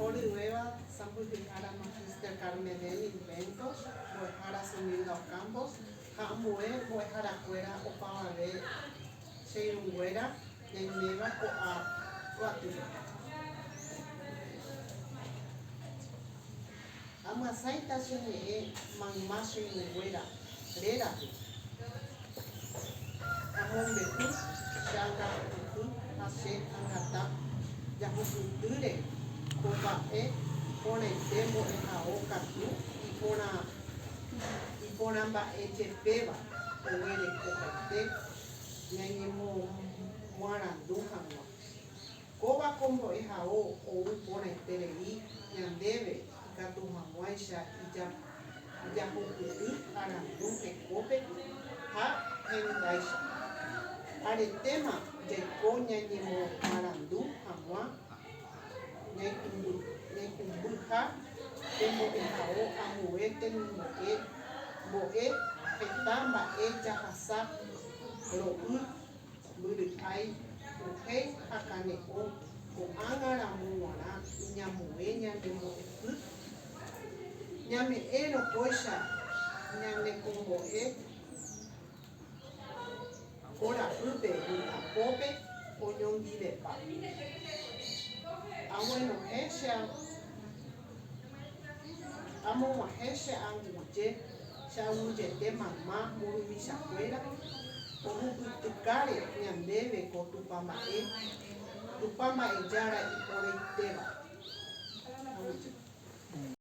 Oryguéva sãmbyhy ára Magister Carmelen Inventos, Mbo'ehára Zumilda Ocampos ha ambue mbo'eharakuéra opavave che irũnguéra ñaiméva ko'a guatýpe. Amyasãita che ñe'ẽ mayma che yvyguéra rérape. Amombe'u che angapy'ỹ ha che angata jahupytýre ko mba'e porãite mbo'ehao katu iporãmba'ejepéva oguerekopaite ñañemomarandu hag̃ua. Kóva ko mbo'ehao ou porãiterei ñandéve ikatu hag̃uáicha ijapopyty arandu hekópe ha hendáicha. Aretéma jaiko ñañemomarandu hag̃ua ñaikũmbyha pe mbo'ehao ambue temimbo'e, mbo'e, heta mba'e jahasa, ro'y, Mbyry'ái, ohéi ha kane'õ ko'ág̃a ramo g̃uarã iñamue ñane mbo'epy. Ñame'ẽ rokóicha ñane kombo'e ko ra'ýpe mitã pópe oñondivepa. Aguenohẽ che ao. Amog̃uahẽ che anguje, che angujete mamá mburuvichakuéra ohupytykáre ñandéve ko Tupã mba'e, Tupã Mba'ejára iporaitéva.